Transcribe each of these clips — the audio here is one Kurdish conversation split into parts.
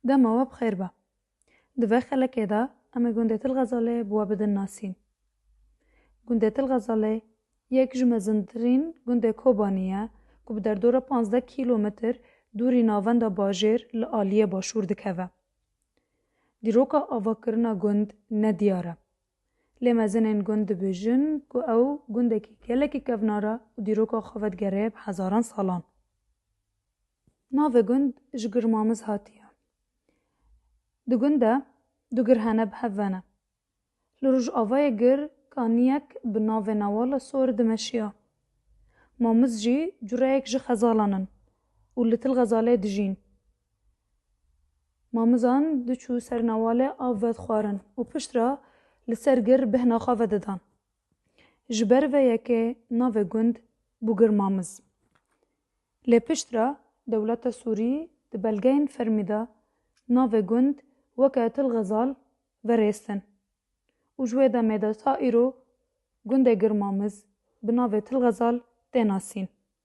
Dema we bi xêr be. Di vê xelekê de em ê gundê Til Xezalê bi we bidin nasîn. Gundê Til Xezalê yek ji mezintirîn gundê Kobanî ye ku bi derdora pazdeh kîlometr dûrî navenda bajêr li aliyê başûr dikeve. Dîroka avakirina gund ne diyar e. Lê mezinên gund dibêjin ku ew gundekî gelekî kevnar e û dîroka xwe vedigerê bi hezaran salan. Navê gund ji Girmamiz hatiye. Di gund de du gir hene bi hev ve ne. Li rojavayê gir kaniyek bi navê Nawala Sor dimeşiya. Mamiz jî cureyek ji xezalan in û li Tilxezalê dijîn. Mamizan diçû ser Nawalê av vedixwarin û pişt re li ser gir bêhna xwe vedidan. Ji ber ve yekê navê gund bû Girmamiz. Lê piştre dewleta Sûrî di belgeyên fermî de navê gund weke Til Xezal verêstin û ji wê demê de ta îro gundê Girmamiz bi navê Til Xezal tê nasîn.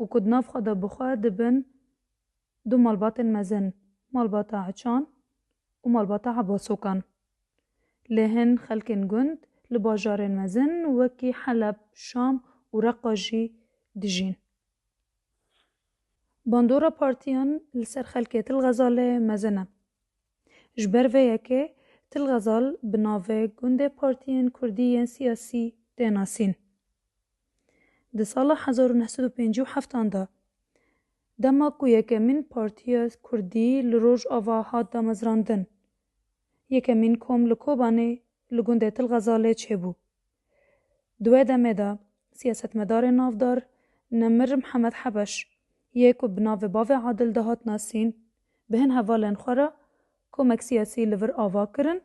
û ku di nav xwe de bi xwe dibin du malbatên mezin, malbata Eçan û malbata Ebasokan. Lê hin xelkên gund li bajarên mezin wekî Heleb, Şam û Reqqa jî dijîn. Bandora partiyan li ser xelkê Til Xezalê mezin e. Ji ber vê yekê Til Xezal bi navê gundê partiyên kurdî yên siyasî tê nasîn. Di sala hezar û neh sed û pêncî û heft an de dema ku yekemîn partiya kurdî li Rojava hat damezrandin, yekemîn kom li Kobanê li gundê Til Xezalê çêbû. Di wê demê de siyasetmedarê navdar Nemir Mihemed Hebeş yê ku bi navê Bavê Adil dihat nasîn, bi hin hevalên xwe re komek siyasî li vir ava kirin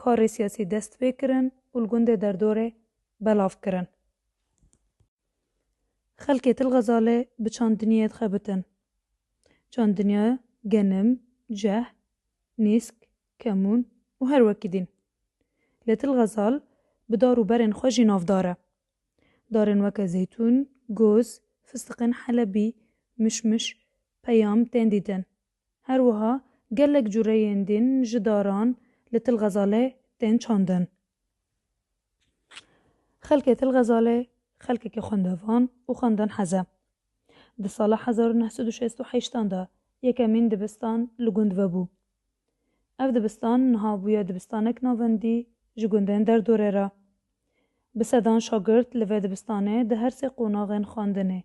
karê siyasî dest pê kirin û li gundê derdorê belav kirin. Xelkê Til Xezalê bi çand dinyayê dixebitin. Çand dinya genim, ceh, nîsk, kemûn û her wekî dîn. Lê Til Xezal bi dar û berên xwe jî navdar e. Darên weke zeytûn, goz, fistiqên helebî, mişmiş, peyam tên dîtin. Her wiha gelek cureyên din ji daran li Til Xezalê tên çandin. Xelkê Til Xezalê xelkeke xwendevan û xwendin hez e. Di sala hezar û neh sed û şêst û heşt an de yekemîn dibistan li gund vebû. Ev dibistan niha bûye dibistanek navendî ji gundên derdorê re. Bi sedan şagirt li vê dibistanê di her sê qonaxên xwendinê,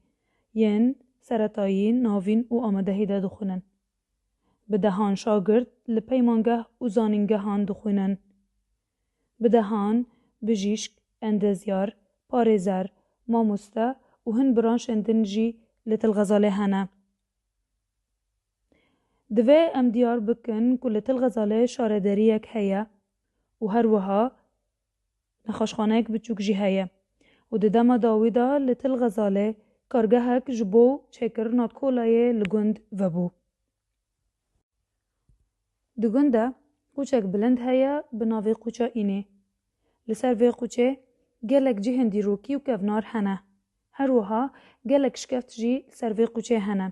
yên seretayî, navîn û amadehî de dixwînin. Bi dehan şagirt li peymangeh û zanîngehan dixwînin. Bi dehan bijîşk, endezyar, parêzer, mamoste û hin branşên din jî li Til Xezalê hene. Divê em diyar bikin ku li Til Xezalê şarederiyek heye û her wiha Nexweşxaneyek biçûk jî heye û di dema dawî de li Til Xezalê kargehek ji bo çêkirina kolayê li gund vebû. Di gund de qûçek bilind heye bi navê Qûça Înê. Li ser vê qûçê gelek cihên dîrokî û kevnar hene. Her wiha gelek şkeft jî li ser vê qûçê hene.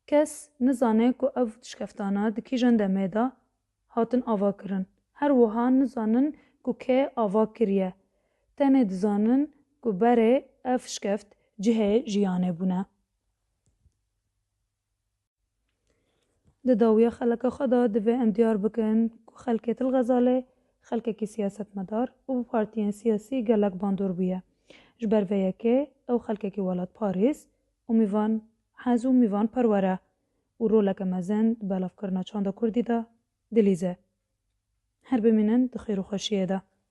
Kes nizane ku ev şkeftana di kîjan demê de hatin avakirin. Her wiha nizanin ku kê ava kiriye. Tenê dizanin ku berê ev şkeft cihê jiyanê bûne. Di dawiya xeleka xwe de divê em diyar bikin ku xelkê Til Xezalê xelkekî siyasetmedar û bi partiyên siyasî gelek bandor bûye. Ji ber vê yekê ew xelkekî welatparêz û mîvan hez û mîvanperwer e. û roleke mezin di belavkirina çanda kurdî de dilîze. Her bimînin di xêr û xweşiyê de.